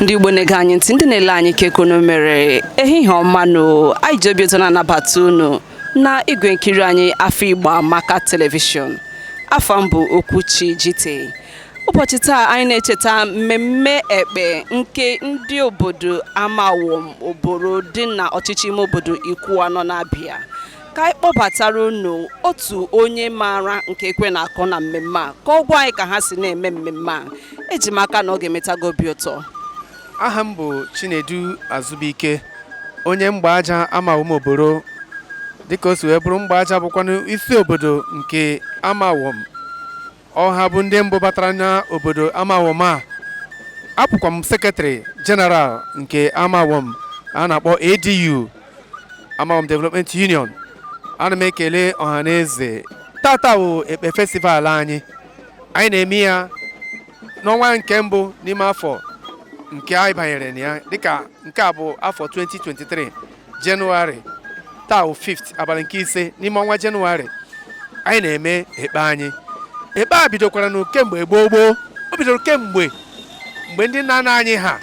ndị Igbo na-ege anyị ntị ndị na-ele anyị kee ka unu mere ehihie ọma nụ anyị ji obi ụtọ na-anabata unu na igwe nkiri anyị afọ Igbo Amaka telivishọn afa m bụ Okwuchi Jite ụbọchị taa anyị na-echeta mmemme ekpe nke ndị obodo Amawom Oboro dị na ọchịchị ime obodo Ikwuanọ na Abia ka anyị kpọbatara unu otu onye maara nke ekwe na-akụ na mmemme a ka ọ gwa anyị ka ha si na-eme mmemme a eji m aka na ọ ga-emeta gị obi ụtọ aha m bụ Chinedu Azụbụike onye Mgbaja Amawom Oboro dịka o si wee bụrụ Mgbaja bụkwanụ isi obodo nke Amawom ọ ha bụ ndị mbụ batara n'obodo Amawom a abụkwa m sekretarị jeneral nke Amawom a na-akpọ ADU Amawom Development Union ana m ekele ọha na eze tata bụ ekpe festival anyị anyị na-eme ya n'ọnwa nke mbụ n'ime afọ nke anyị banyere na ya dịka nke a bụ afọ 2023 Jenụwarị taa bụ 5 abalị nke ise n'ime ọnwa Jenụwarị anyị na-eme ekpe anyị ekpe a bidokwara na kemgbe gboo gboo o bidoro kemgbe mgbe ndị nna nna anyị ha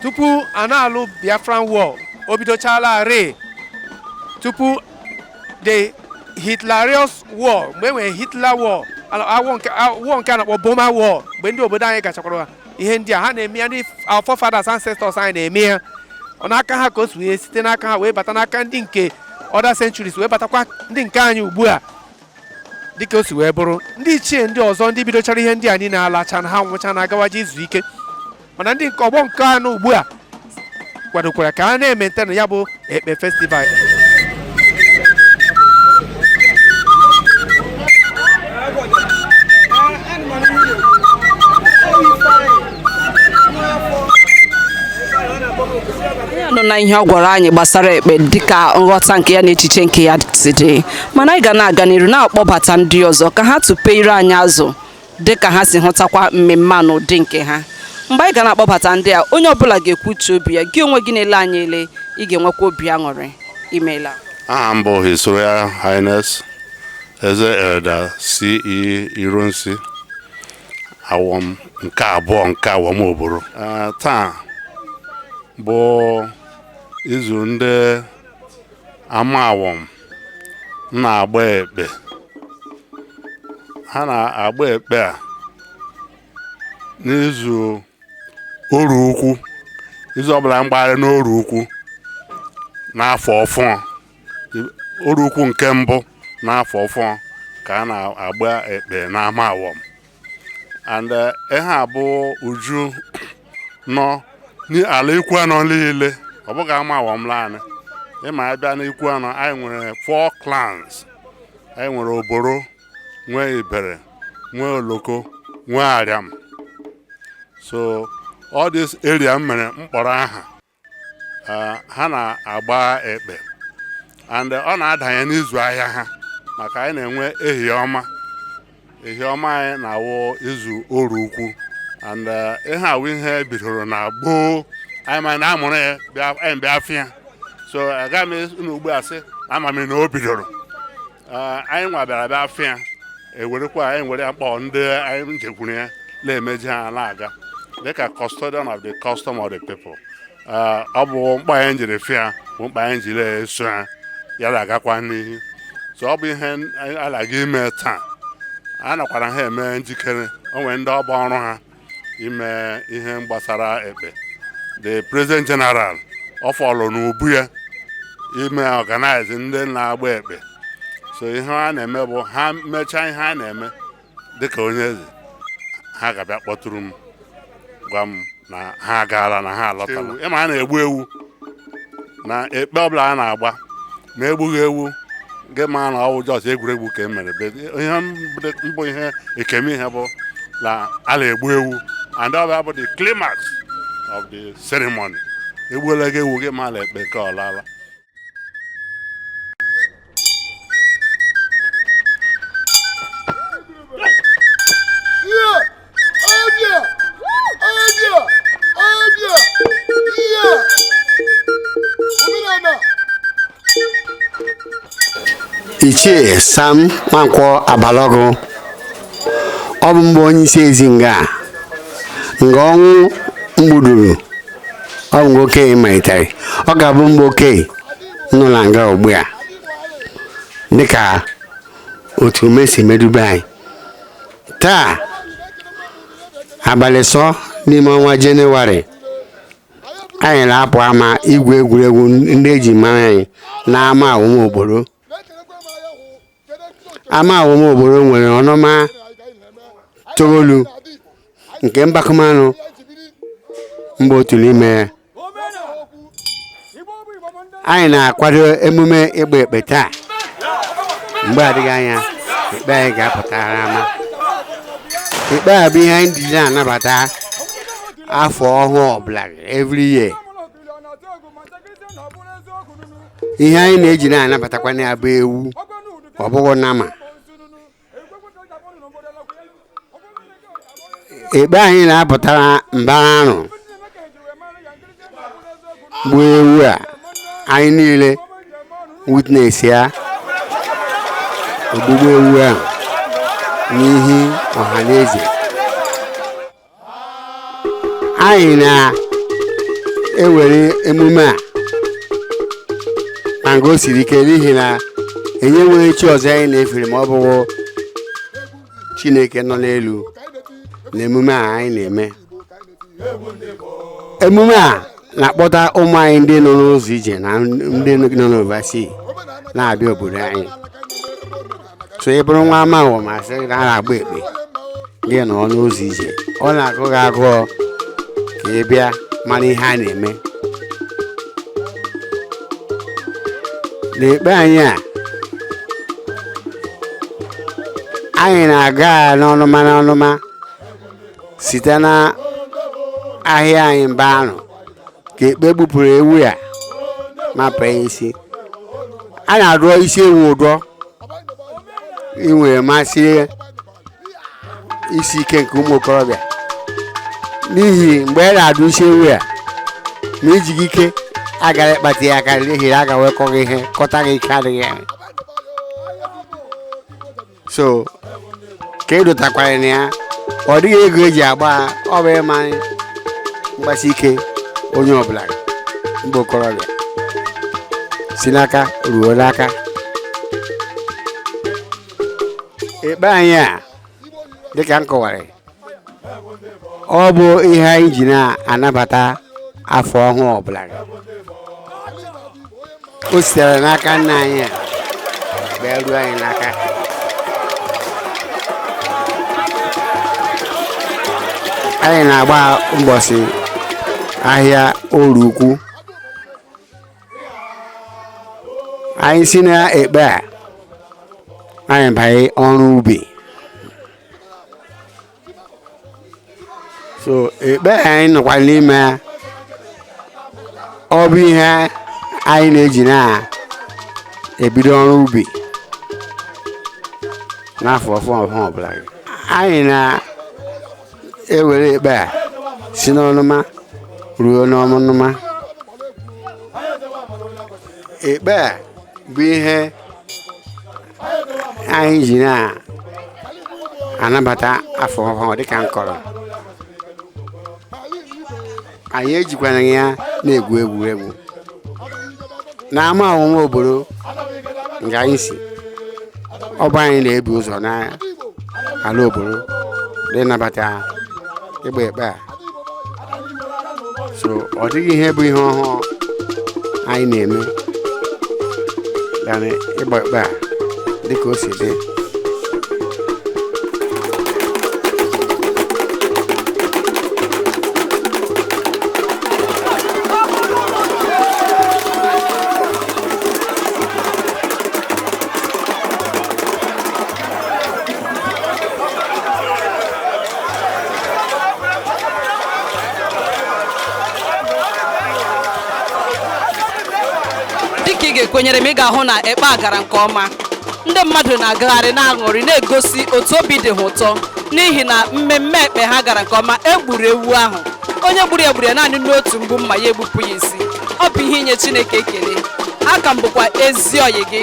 tupu a na-alụ Biafran War o bidochalarị tupu the Hitler's War mgbe e nwere Hitler War nke a na-akpọ Burma War mgbe ndị obodo anyị gachakwara ihe ndị a ha na-eme ya ndị our forefathers ancestors anyị na-eme ya ọ n'aka ha ka o si wee site n'aka ha wee bata n'aka ndị nke other centuries wee batakwa ndị nke anyị ugbu a dịka o si wee bụrụ ndị ichie ndị ọzọ ndị bidochara ihe ndị a niile alachana ha nwụchana agawaje izu ike mana ndị nke ọgbọ nke a nọ ugbu a kwadokwara ka a na-emaintain ya bụ ekpe festival anyị anụna ihe ọ gwara anyị gbasara ekpe dịka nghọta nke ya na echiche nke ya si dị mana anyị ga na-aga n'iru na-akpọbata ndị ọzọ ka ha tụpee ire anyị azụ dị ka ha si hụtakwa mmemme a n'ụdị nke ha mgbe anyị ga na-akpọbata ndị a onye ọbụla ga-ekwu uche obi ya gị onwe gị na-ele anyị ele ị ga-enwekwa obi aṅụrị imeela aha m bụ His Royal Highness Eze Elder C.E. Ironsi Awom nke abụọ nke Awom Oboro Ah, taa bụ izu ndị Amawom na-agba ekpe a na-agba ekpe a n'izu Orie ukwu izu ọbụla mgbagharị n'Orie ukwu n'afọ ọfụọ Orie ukwu nke mbụ n'afọ ọfụọ ka a na-agba ekpe n'Amawom and eh, ihe a bụ uju nọ n'ala ikwu anọ niile ọ bụghị ama awọm laanị ịma abịa n'ikwu anọ anyị nwere four clans anyị nwere oboro nwee ibere nwee oloko nwee ariam so all this area m mere mkpọrọ aha eh, ha na-agba ekpe and ọ na-adanye n'izu ahịa ha maka anyị na-enwe ehi ọma ehi ọma anyị na-awụ izu orie ukwu and eh, ihe a wụ ihe e bidoro na gboo anyị ma na amụrụ ya bịa- anyị bịa fụ ya so agaghị m anọ ugbu a sị ama m na o bidoro anyị nwa bịara bịa fụ ya ewerekwa anyị were ya kpọọ ndị anyị jekwuru ya na-emeji ha na-aga dịka custodian of the custom of the people ọ bụ mkpa anyị jiri fụ ya bụ mkpa anyị jiri eso ha ya na-agakwa n'ihu so ọ bụ ihe a na-aga ime taa a nakwara ha eme njikere o nwere ndị ọ bụ ọrụ ha ime ihe gbasara ekpe the president general ọ fall n'ubu ya ime organize ndị na-agba ekpe so ihe ha na-eme bụ ha mechaa ihe a na-eme dịka onye eze ha ga-abịa kpọtụrụ m gwa m na ha agaala na ha alọtala ịma a na-egbu ewu na ekpe ọbụla a na-agba ma egbughị ewu gị ma na ọ wụ just egwuregwu ka e mere ihe mbụ ihe ekeme ihe bụ na a na-egbu ewu and ọ bịa bụ the climax of the ceremony egbuola gị ewu gị ma la ekpe ka ọ laala ichie sam nwankwọ abalọgụ ọ bụ m bụ onye isi ezi nga nga ọnwụ mgbuduru ọ bụ mgbe okenye malitere ọ ga-abụ mgbe okenye nọ na nga ugbu a dịka otu ume si medube anyị taa abalị iso n'ime ọnwa jenụwarị anyị na-apụ ama igwu egwuregwu ndị eji mara anyị na ama awọm oboro ama awọm oboro nwere ọnụma toolu nke mbakamanụ mba otu n'ime ya anyị na-akwado emume ịgba ekpe taa mgbe adịghị anya ekpe anyị ga-apụtara ama ekpe a bụ ihe anyị ji na-anabata afọ ọhụụ ọbụla every year ihe anyị na-eji na-anabatakwanụ ya bụ ewu ọ bụghị nama ekpe anyị na-apụtara mbara arụ gbuo ewu a anyị niile witness ya ogbugbu ewu a n'ihu ọha na eze anyị na-ewere emume a na nga o siri ike n'ihi na anyị nwere chi ọzọ anyị na-efere ma ọ bụghị chineke nọ n'elu na emume a anyị na-eme emume a na-akpọta ụmụ anyị ndị nọ n'ụzọ ije na ndị nọ n'oversea na-abịa obodo anyị so ị bụrụ nwa amawom a sị na a na-agba ekpe gị nọ n'ụzọ ije ọ na-agụ gị agụọ ka ị bịa mara ihe a na-eme n'ekpe anyị a anyị na-aga n'ọnụma n'ọnụma site na ahịa anyị mba arụ ka ekpe gbupụrụ ewu a mapụ ya isi a na-adọ isi ewu ụdọ iwere masị isi ike nke ụmụ okorobịa n'ihi mgbe a na-adọ isi ewu a ma ijighị ike agara ịkpatụ ya aka n'ihi na a ga-ewekọ gị ihe kọta gị ike adịghị ya so ka a dọtakwara na ya ọ dịghị ego eji agba ya, ọ bụ ịma mgbasi ike onye ọbụla mgbe okorobịa si n'aka ruo n'aka ekpe anyị a dịka m kọwara ọ bụ ihe anyị ji na-anabata afọ ọhụụ ọbụla o sitere n'aka nna anyị ha bịa ruo anyị n'aka anyị na-agba mbọsị ahịa orie ukwu anyị si na ekpe a anyị banye ọrụ ubi so ekpe anyị nọkwa n'ime ya ọ bụ ihe anyị na-eji na-ebido ọrụ ubi n'afọ ọhụụ ọbụla anyị na-ewere ekpe a si n'ọnụma ruo n'ọnụma ekpe a bụ ihe anyị ji na-anabata afọ ọhụrụ dịka m kọrọ anyị ejikwana ya na-egwu egwuregwu n'Amawom Oboro nke anyị si ọ bụ anyị na-ebu ụzọ n'ala Oboro ịnabata ịgba ekpe a so ọ dịghị ihe bụ ihe ọhụụ anyị na-eme yana ịgba ekpe a dịka o si dị dịka ị ga-ekwenyere m ị ga-ahụ na ekpe a gara nke ọma ndị mmadụ na-agagharị na-aṅụrị na-egosi otu obi dị ha ụtọ n'ihi na mmemme ekpe ha gara nke ọma e gburu ewu ahụ onye gburu ya gburu ya naanị n'otu mgbu mma ya egbupụ ya isi ọ bụ ihe inye Chineke ekele aka m bụkwa ezi ọyị gị